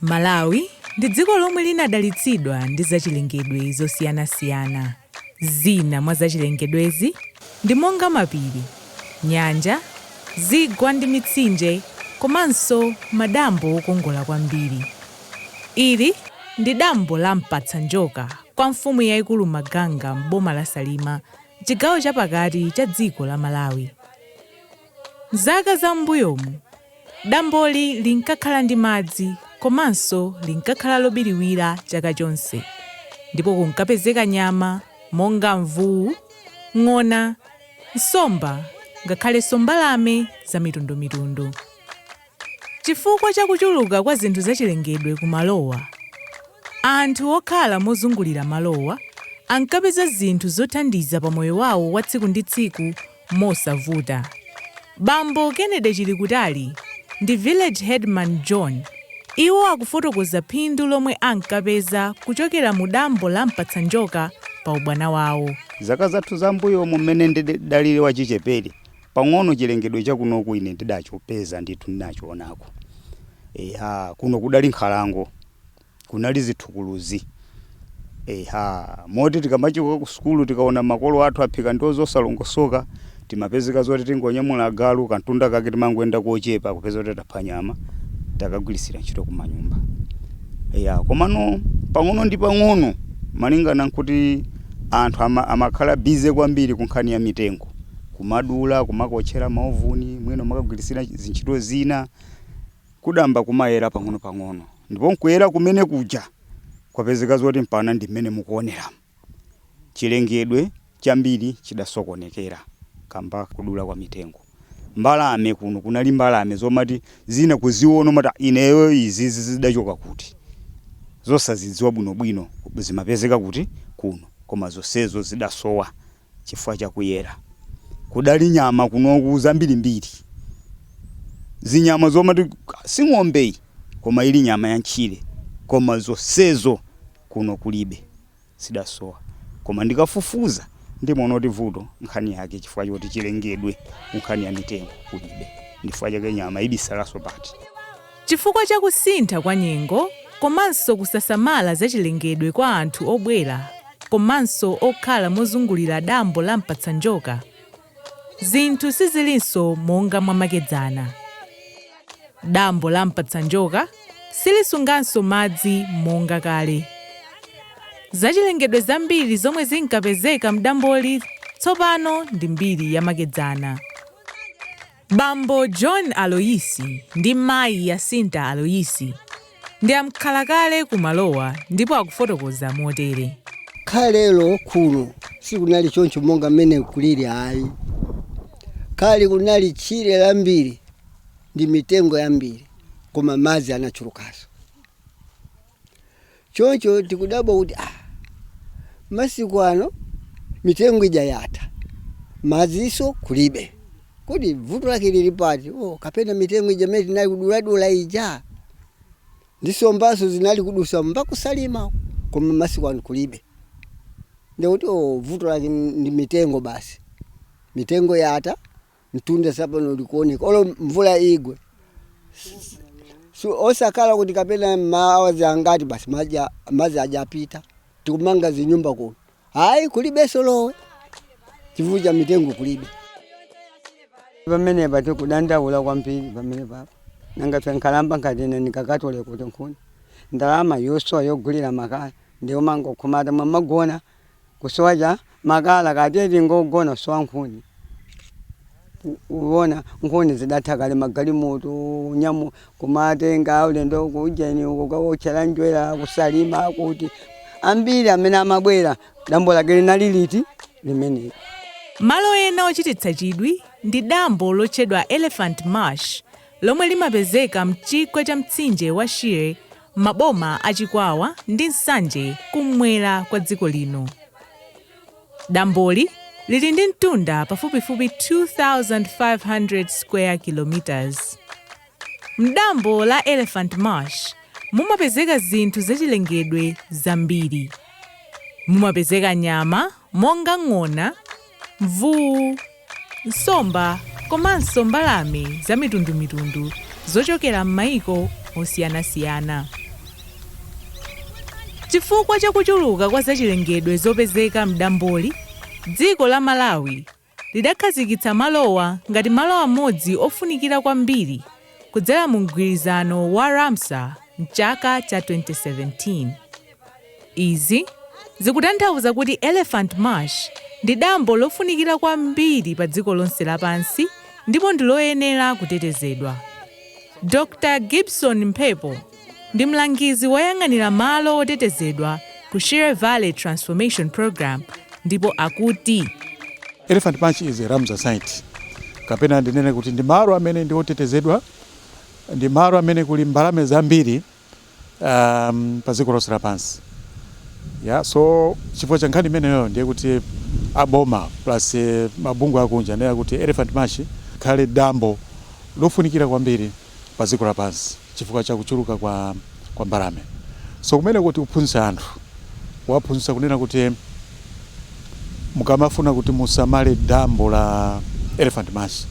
Malawi ndi dziko lomwe linadalitsidwa ndi zachilengedwe zosiyanasiyana. Zina mwa zachilengedwezi ndi monga mapiri, nyanja, zigwa ndi mitsinje komanso madambo okongola kwambiri. Ili ndi dambo la Mpatsanjoka kwa Mfumu yaikulu Maganga m'boma la Salima m'chigawo cha pakati cha dziko la Malawi. M'zaka za m'mbuyomu, damboli linkakhala ndi madzi komanso linkakhala lobiriwira chaka chonse ndipo kunkapezeka nyama monga mvuwu, ng'ona, nsomba ngakhalenso mbalame zamitundumitundu. Chifukwa cha kuchuluka kwa zinthu zachilengedwe kumalowa, anthu okhala mozungulira malowa ankapeza zinthu zothandiza pa moyo wawo wa tsiku ndi tsiku mosavuta. Bambo Kennedy Chilikutali ndi Village Headman John iwo akufotokoza phindu lomwe ankapeza kuchokera mu dambo la Mpatsanjoka pa ubwana wawo. Zaka zathu za m'mbuyomu m'mene ndidali wachichepere, Pang'ono chilengedwe chakunoku ine ndidachipeza ndithu, ndinachionako. Eya, kuno kudali nkhalango, kunali zithukuluzi. Eya, moti tikamachoka kusukulu tikaona makolo athu aphika ndiwo zosalongosoka, timapezeka zoti tingoonyamula agalu, kamtunda kake timangoyenda kochepa kupeza kuti tapha nyama, takagwiritsira ntchito kumanyumba. Eya, komano pang'ono ndi pang'ono, malingana nkuti anthu ama, amakhala busy kwambiri kunkhani ya mitengo, kumadula kumakaotchera maovuni mwina kumakagwiritsira zintchito zina kudayamba kumayera pang'onopang'ono ndipo nkuyera kumene kuja kwapezeka zoti mpaka ndi mmene mukuoneramu chilengedwe chambiri chidasokonekera kamba kodula kwa mitengo mbalame kuno kunali mbalame zomati zina kuziona umati "Ah, ineyo izizi zidachoka kuti zosazidziwa bwinobwino zimapezeka kuti kuno koma zonsezo zidasowa chifukwa cha kuyera. Kudali nyama kunoku zambirimbiri. Zinyama zomati si ng'ombe iyi koma ili nyama ya m'tchire koma zonsezo kuno kulibe. Zidasowa. Koma ndikafufuza ndimaona kuti vuto nkhani yake chifukwa choti chilengedwe ku nkhani ya mitengo kulibe. Ndi chifukwa chake nyama ibisalanso pati. Chifukwa cha kusintha kwa nyengo komanso kusasamala za chilengedwe kwa anthu obwera komanso okhala mozungulira dambo la Mpatsanjoka, zinthu sizilinso monga mwamakedzana. Dambo la Mpatsanjoka silisunganso madzi monga kale. Zachilengedwe zambiri zomwe zinkapezeka m'damboli tsopano ndi mbiri yamakedzana. Bambo John Aloyisi ndi Mayi Yasinta Aloyisi ndi amkhalakale ku malowa ndipo akufotokoza motere. Kalelo kuno sikunali choncho monga mmene kulili ayi. Kale kunali tchire lambiri ndi mitengo yambiri koma madzi anali ochulukanso. Choncho tikudabwa kuti ah, masiku ano mitengo ija yatha, madziso kulibe. Kodi vuto lake lili pati? Oh, kapena mitengo ija imene tinali kuduladula ija ndi sombanso zinali kudusamo mpaka kusalima, koma masiku ano kulibe. Ndikuti oh, vuto lake ndi mitengo basi. Mitengo yatha. mtunda sapano likuoneka olo mvula igwe S- si osakhala kuti kapena maawazi angati basi maji a- madzi aja apita tikumanga zinyumba kuno ayi kulibenso lowe chifukwa cha mitengo kulibe pamenepa tikudandaula kwambiri pamenepa nanga fe nkhalamba ngati ine ndikakatole kuti nkhuni ndalama yosowa yogulira makala ndiyo mangokumata mwamagona kusowa kwa makala kaya tiye tingogona kusowa nkhuni U- uwona nkhuni zidatha kale magalimoto nyamu kumatenga aulendo kujeni uko kukawotchera njerwa ku Salima kuti ambiri amene amabwera dambo lake linali liti limeneli Malo ena ochititsa chidwi ndi dambo lotchedwa Elephant Marsh lomwe limapezeka mchigwa cha mtsinje wa Shire m'maboma a Chikwawa ndi Nsanje kum'mwera kwa dziko lino. Damboli lili ndi mtunda pafupifupi 2,500 square kilometres. M'dambo la Elephant Marsh mumapezeka zinthu zachilengedwe zambiri. Mumapezeka nyama monga ng'ona, mvuu, nsomba komanso mbalame zamitundumitundu zochokera m'mayiko osiyanasiyana. Chifukwa cha kuchuluka kwa zachilengedwe zopezeka m'damboli, dziko la Malawi lidakhazikitsa malowa ngati malo amodzi ofunikira kwambiri kudzera mumgwirizano wa Ramsar m'chaka cha 2017. Izi zikutanthauza kuti Elephant Marsh ndi dambo lofunikira kwambiri padziko lonse lapansi ndipo ndi loyenera kutetezedwa. Dr. Gibson Mphepo ndi mlangizi woyang'anira malo otetezedwa ku Shire Valley Transformation Program ndipo akuti. Elephant Marsh is a Ramsar site kapena ndinene kuti ndi malo amene ndi otetezedwa, ndi malo amene kuli mbalame zambiri. um, pa dziko lonse lapansi ya so chifukwa cha nkhani imeneyo ndiye kuti aboma plus eh, mabungwe akunja ndiye kuti Elephant Marsh ikhale dambo lofunikira kwambiri pa dziko lapansi chifukwa cha kuchuluka kwa, kwa mbalame so kumene kuti kuphunzitsa anthu kuwaphunzitsa kunena kuti mukamafuna kuti musamale dambo la Elephant Marsh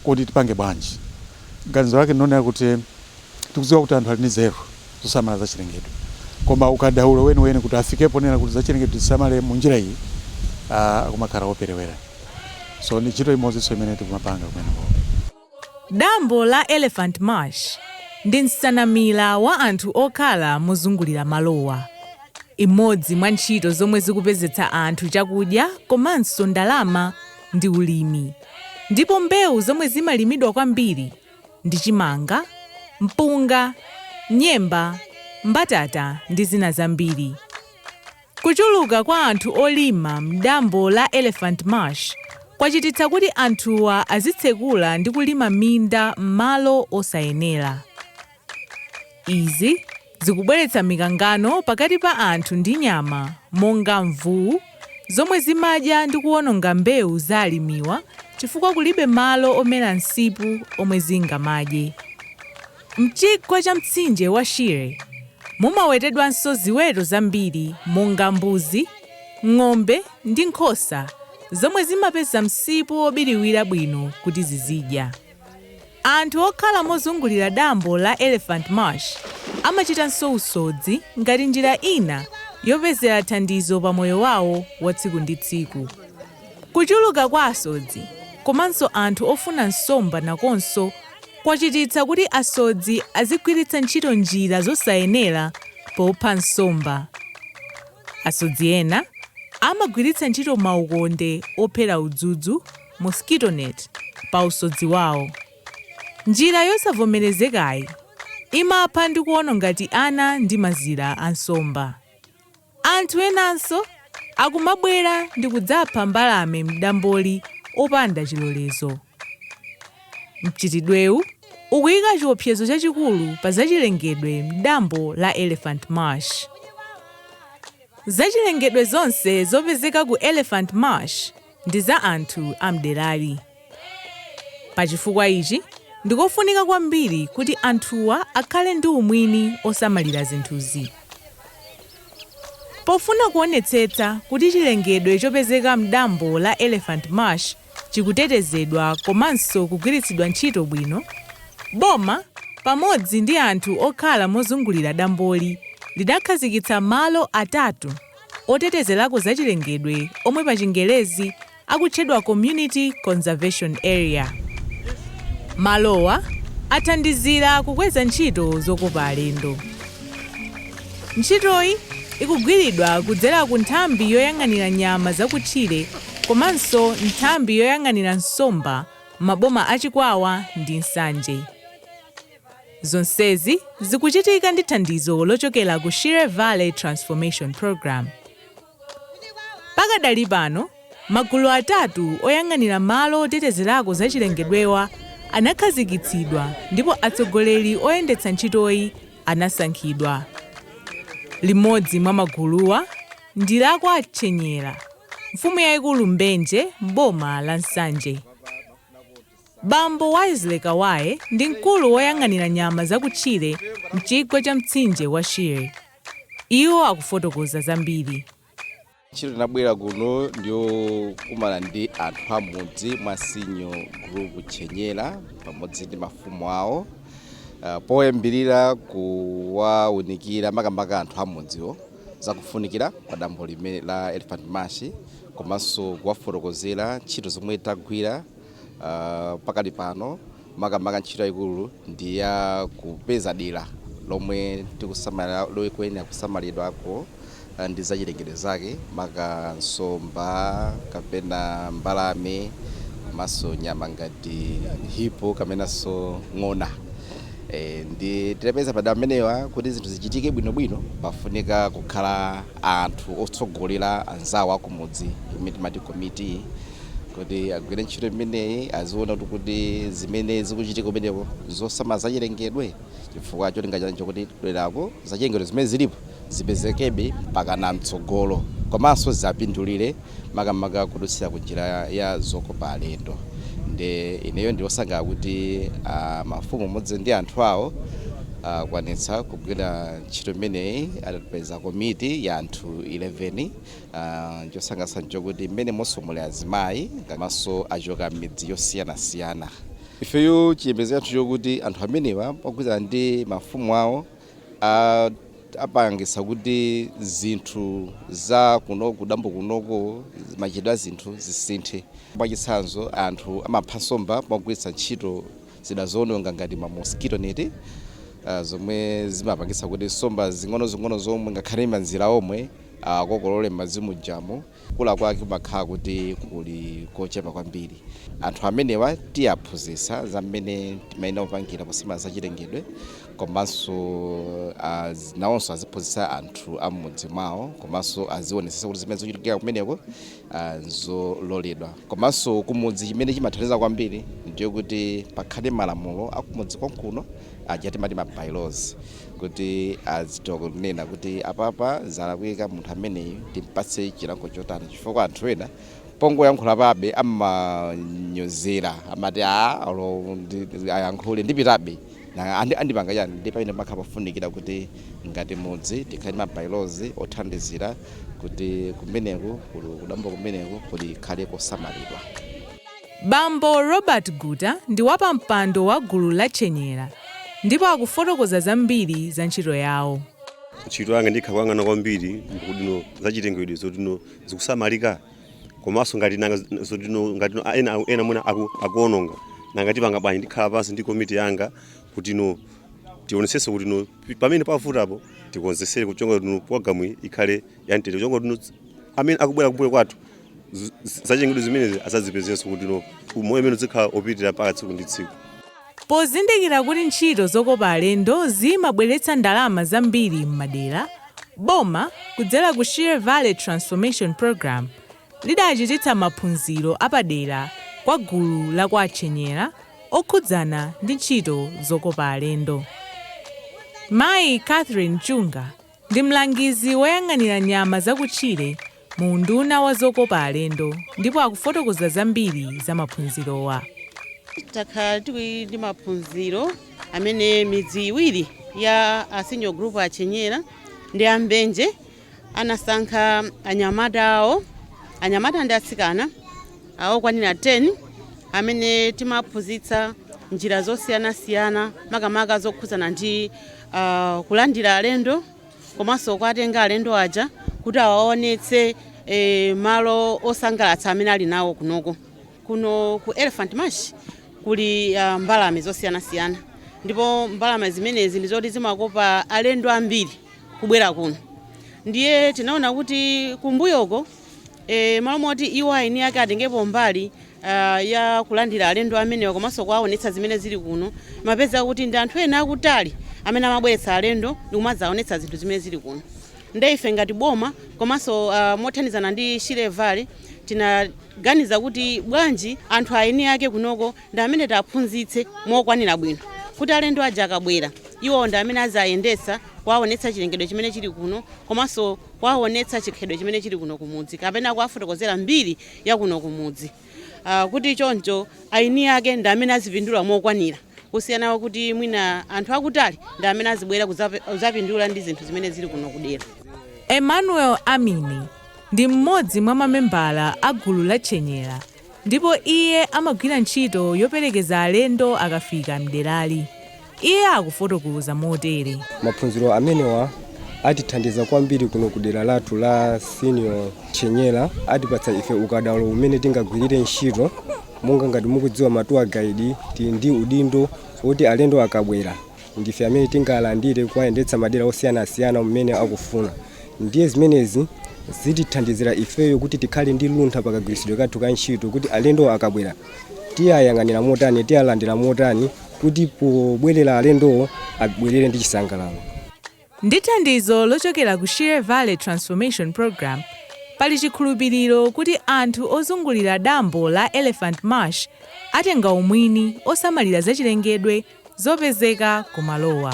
kodi tipange bwanji ganizo lake ndi lonena kuti Tikudziwa kuti anthu ali ndi nzeru zosamala zachilengedwe koma ukadaulo weniweni kuti afike ponena kuti zachilengedwe tizisamale munjira iyi aah kumakhala koperewera so ndi ntchito imodzinso imene tikumapanga kumenekoko. Dambo la Elephant Marsh ndi msanamira wa anthu okhala mozungulira malowa. Imodzi mwa ntchito zomwe zikupezetsa anthu chakudya komanso ndalama ndi ulimi ndipo mbewu zomwe zimalimidwa kwambiri ndi chimanga, mpunga, nyemba, mbatata ndi zina zambiri. Kuchuluka kwa anthu olima m'dambo la Elephant Marsh kwachititsa kuti anthuwa azitsekula ndi kulima minda m'malo osayenera. Izi Zikubweretsa mikangano pakati pa anthu ndi nyama monga mvuwu zomwe zimadya ndi kuwononga mbewu za alimiwa chifukwa kulibe malo omera msipu omwe zingamadye. Mchigwa cha mtsinje wa Shire mumawetedwanso ziweto zambiri monga mbuzi, ng'ombe ndi nkhosa zomwe zimapeza msipu wobiriwira bwino kuti zizidya. Anthu okhala mozungulira dambo la Elephant Marsh amachitanso usodzi ngati njira ina yopezera thandizo pa moyo wawo wa tsiku ndi tsiku. Kuchuluka kwa asodzi komanso anthu ofuna nsomba nakonso kwachititsa kuti asodzi azigwiritsa ntchito njira zosayenera popha nsomba. Asodzi ena amagwiritsa ntchito maukonde ophera udzudzu mosquito net, pa usodzi wawo. Njira yosavomerezekayi imapha ndi kuononga tiana ndi mazira a nsomba. Anthu enanso akumabwera ndikudzapha mbalame m'damboli opanda chilolezo. Mchitidwewu ukuyika chiopsezo chachikulu pa zachilengedwe m'dambo la Elephant Marsh. Zachilengedwe zonse zopezeka ku Elephant Marsh. ndi za anthu a mderali. Pa chifukwa ichi, ndikofunika kwambiri kuti anthuwa akhale ndi umwini osamalira zinthuzi. Pofuna kuonetsetsa kuti chilengedwe chopezeka mdambo la Elephant Marsh chikutetezedwa komanso kugwiritsidwa ntchito bwino, boma pamodzi ndi anthu okhala mozungulira damboli linakhazikitsa malo atatu, otetezerako zachilengedwe omwe pachingerezi akutchedwa Community Conservation Area. Malowa athandizira kukweza ntchito zokopa alendo. Ntchitoyi ikugwiridwa kudzera ku nthambi yoyang'anira nyama zakutchire komanso nthambi yoyang'anira nsomba m'maboma a Chikwawa ndi Nsanje. Zonsezi zikuchitika ndi thandizo lochokera ku Shire Valley Transformation Programme. Pakadali pano, magulu atatu oyang'anira malo otetezerako zachilengedwewa anakhazikitsidwa ndipo atsogoleri oyendetsa ntchitoyi anasankhidwa. Limodzi mwa maguluwa ndi la kwa Tchenyera, Mfumu Yaikulu Mbenje m'boma la Nsanje. Bambo Wisely Kawaye ndi mkulu woyang'anira nyama zakutchire m'chigwa cha mtsinje wa Shire. Iwo akufotokoza zambiri. Ntchito tinabwera kuno ndiyokumana ndi anthu a m'mudzi mwa Sinyo Gulupu Tchenyera pamodzi ndi mafumu awo poyambirira kuwaunikira makamaka anthu a m'mudziwo za kufunikira kwa dambo limeneli la Elephant Marsh komanso kuwafotokozera ntchito zomwe tagwira uh, pakadali pano makamaka ntchito yayikulu ndi ya kupeza dera lomwe tikusamalira loyenera kusamalidwako uh, ndi zachilengedwe zake maka nsomba kapena mbalame komanso nyama ngati hipo kamenanso ng'ona e, ndiye tapeza madera amenewa kuti zinthu zichitike bwinobwino pafunika kukhala anthu otsogolera anzawo akumudzi imene timati komiti kuti agwire ntchito imeneyi aziona kuti zimene zikuchitika kumeneko zosamala zachilengedwe chifukwa cholinga chani chokuti derako zachilengedwe zimene zilipo zipezekebe mpaka na mtsogolo komanso ziwapindulire makamaka kudutsira ku njira ya, ya zokopa alendo nde ineyo ndiwosangalala kuti ah, mafumu limodzi ndi anthu awo akwanitsa kugwira Ntchito imeneyi adapeza komiti ya anthu 11. Chosangalatsa n'chokuti mmenemonso muli azimayi komanso achoka m'midzi yosiyanasiyana. Ifeyo chiyembekezo chathu n'chokuti anthu amenewa mogwirizana ndi mafumu awo apangitsa kuti zinthu za kuno kudambo kunoko, machitidwe a zinthu zisinthe. Mwachitsanzo, anthu amapha nsomba pogwiritsa ntchito. zida zoononga ngati ma mosquito net zomwe zimapangitsa kuti nsomba zing'onozing'ono zomwe ngakhale manzira omwe akokolole m'madzi mujamo kukula kwake kumakhala kuti kuli kochepa kwambiri. Anthu amenewa tiaphunzitsa za mmene timayenera kupangira posamala za chilengedwe komanso nawonso aziphunzitsa anthu a m'mudzi mwawo komanso azionetsetsa kuti zimene zikuchitika kumeneko nzololedwa komanso kumudzi chimene chimathandiza kwambiri ndiyo kuti pakhale malamulo akumudzi konkuno aja timati ma bylaws kuti azitha kunena kuti apapa zalakwika munthu ameneyu timpatse chilango chotani chifukwa anthu ena pongoyankhula chabe amanyozera amati a ayankhule ndipitabe Nanga andipanga chani? Ndiye pamene pamakhala pofunikira kuti ngati mudzi tikhale ndi ma by-laws othandizira kuti kumeneku, kudambo kumeneku kukhale kosamalidwa. Bambo Robert Guta ndi wapampando wa gulu la Chenyera ndipo akufotokoza zambiri za ntchito yawo. Ntchito yanga ndikhala kuyang'ana kwambiri kutino zachilengedwe zotino zikusamalika? komanso ngati nanga zotino ngati no- ena ena mwina aku, akuononga nanga tipanga bwanji ndikhala pansi ndi komiti yanga kuti no tionetsetse kuti no pi- pamene pavutapo tikonzetsere ncholinga kuti no programu iyi ikhale ya mtendere ncholinga kuti no amene akubwera kumbuyo kwathu z- z- zachilengedwe zimenezi azazipezenso kuti no umoyo umene uzikhala opitira mpaka tsiku ndi tsiku Pozindikira kuti ntchito zokopa alendo zimabweretsa ndalama zambiri m'madera, boma, kudzera ku Shire Valley Transformation Programme, lidachititsa maphunziro apadera kwa gulu la kwa Chenyera okhudzana ndi ntchito zokopa alendo. Mayi Catherine Chunga. Ndi mlangizi woyang'anira nyama zakutchire mu unduna wa zokopa alendo ndipo akufotokoza zambiri za maphunzirowa. Takhala tili ndi maphunziro amene midzi iwiri ya a Senior Group a Chenyera ndi a Mbenje anasankha anyamata awo, anyamata ndi atsikana, okwanira 10 amene timawaphunzitsa njira zosiyanasiyana makamaka zokhudzana ndi. uh, kulandira alendo komanso kuwatenga alendo aja kuti awaonetse eh, malo osangalatsa amene ali nawo kunoko kuno ku elephant marsh kuli uh, mbalame zosiyanasiyana ndipo mbalame zimenezi ndi zoti zimakopa alendo ambiri kubwera kuno ndiye tinaona kuti kumbuyoko e M'malo moti iwo aeni ake atengepo mbali ah, ya kulandira alendo amenewa komanso kuwaonetsa zimene zili kuno mmapezeka kuti ndi anthu ena akutali amene amabweretsa alendo ndikumadzaonetsa zinthu zimene zili kuno nde ife ngati boma komanso ah, mothandizana ndi Shire Valley tinaganiza kuti bwanji anthu aeni ake kunoko ndi amene tiwaphunzitse mokwanira bwino kuti alendo aja akabwera iwo ndi amene aziwayendetsa kuwaonetsa chilengedwe chimene chili kuno komanso kuwawonetsa chikhalidwe chimene chili kuno kumudzi kapena kuwafotokozera mbiri ya kuno kumudzi kuti choncho aeni ake ndi amene azipindula mokwanira kusiyana kuti mwina anthu akutali ndi amene azibwera kudzapindula ndi zinthu zimene zili kuno kudera. Emmanuel Amini ndi mmodzi mwa mamembala a gulu la Chenyera Ndipo iye amagwira ntchito yoperekeza alendo akafika m'derali. Iye akufotokoza motere. Maphunziro amenewa atithandiza kwambiri kuno kudera lathu la Senior Chenyera. Atipatsa ife ukadaulo umene tingagwirire ntchito. Monga ngati mukudziwa ma tour guide tili ndi udindo woti alendo akabwera Ndife amene tingalandire kuwayendetsa madera osiyanasiyana mmene akufuna ndiye zimenezi zitithandizira ifeyo kuti tikhale ndi luntha pakagwiritsidwe kathu ka ntchito kuti alendowo akabwera tiwayang'anira motani, tiwalandira motani kuti pobwerera alendowo abwerere ndi chisangalalo. Ndi thandizo lochokera ku Shire Valley Transformation Program, pali chikhulupiriro kuti anthu ozungulira dambo la Elephant Marsh atenga umwini wosamalira zachilengedwe zopezeka ku malowa.